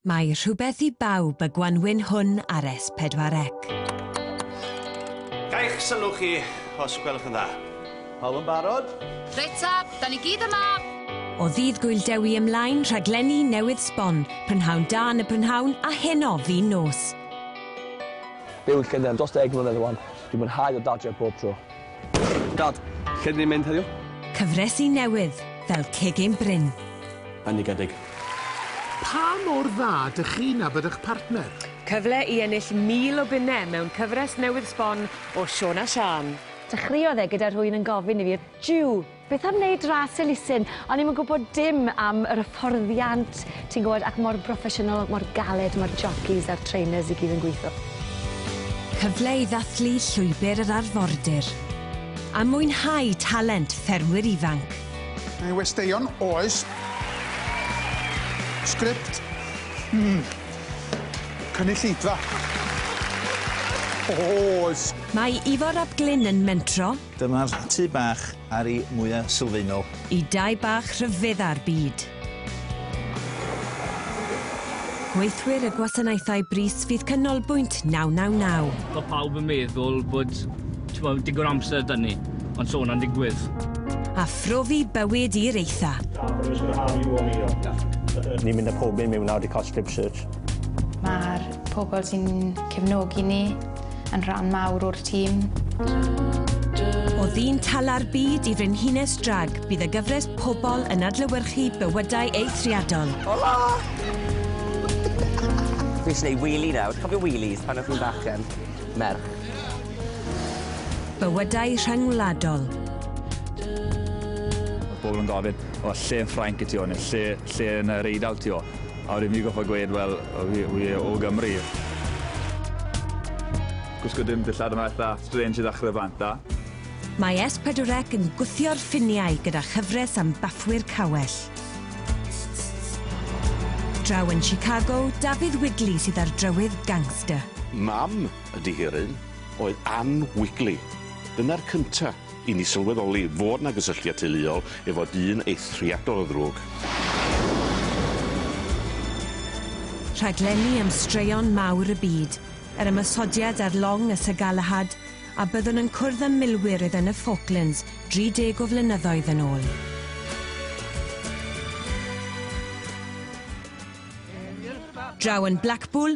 Mae rhywbeth i bawb y gwanwyn hwn ar S4C. Ga i'ch sylw chi, os gwelwch yn dda? Pawb yn barod? Reit ta, da ni gyd yma! O ddydd Gŵyl Dewi ymlaen, rhaglenni newydd sbon, prynhawn da yn y prynhawn, a heno fin nos. Byw yn Llundain dros ddeg mlynedd rwan, dwi'n mwynhau dod adref bob tro. Dad, lle dyn ni'n mynd heddiw? Cyfresi newydd fel Cegin Bryn. Bendigedig. Pa mor dda dych chi'n nabod eich partner? Cyfle i ennill 1,000 o bunnau mewn cyfres newydd sbon o Siôn a Siân. Dechreuodd e gyda rhywun yn gofyn i fi, 'Jiw! Beth am neud ras elusen? O'n i'm yn gwybod dim am yr hyfforddiant, ti'n gwybod, ac mor broffesiynol, mor galed mae'r jockeys a'r trainers i gyd yn gweithio. Cyfle i ddathlu llwybr yr arfordir a mwynhau talent ffermwyr ifanc. Mae westeion, oes. Sgript, mm. Cynulleidfa, oes. Mae Ifor ap Glyn yn mentro, Dyma'r tŷ bach Ari mwya sylfaenol. Y dai bach rhyfedda'r byd. Gweithwyr y gwasanaethau brys fydd canolbwynt 999. Mae pawb yn meddwl bod, t'mod, digon o amser 'da ni, ond so hwnna'n digwydd. A phrofi bywyd i'r eitha. Ni'n mynd â pob un mewn nawr i cael strip search. Mae'r pobl sy'n cefnogi ni. yn rhan mawr o'r tîm. O ddyn tala'r byd i frenhines drag, bydd y gyfres Pobol yn adlewyrchu bywydau eithriadol. Hola! Fi eisiau gwneud wheelie nawr. Cofio wheelies pan o'ch chi'n bachgen? Merch. Bywydau rhyngwladol. Pobl yn gofyn, o, lle yn Ffrainc y ti o, neu lle, lle yn yr Eidal ti o? A wedyn fi gorffod gweud wel o fi fi o Gymru. Gwisgo dim dillad yma itha strange i ddechre bant da. Mae Es Pedwrec yn gwthio'r ffiniau gyda chyfres am baffwyr cawell. Draw yn Chicago, Dafydd Wigley sydd â'r drywydd gangster. Mam y dihiryn oedd Ann Wigley. Dyna'r cynta. I ni sylweddoli fod 'na gysylltiad teuluol efo dyn eithriadol o ddrwg. Rhaglenni am straeon mawr y byd, yr ymosodiad ar long y Sir Galahad, a byddwn yn cwrdd â milwyr oedd yn y Falklands 30 o flynyddoedd yn ôl. Draw yn Blackpool,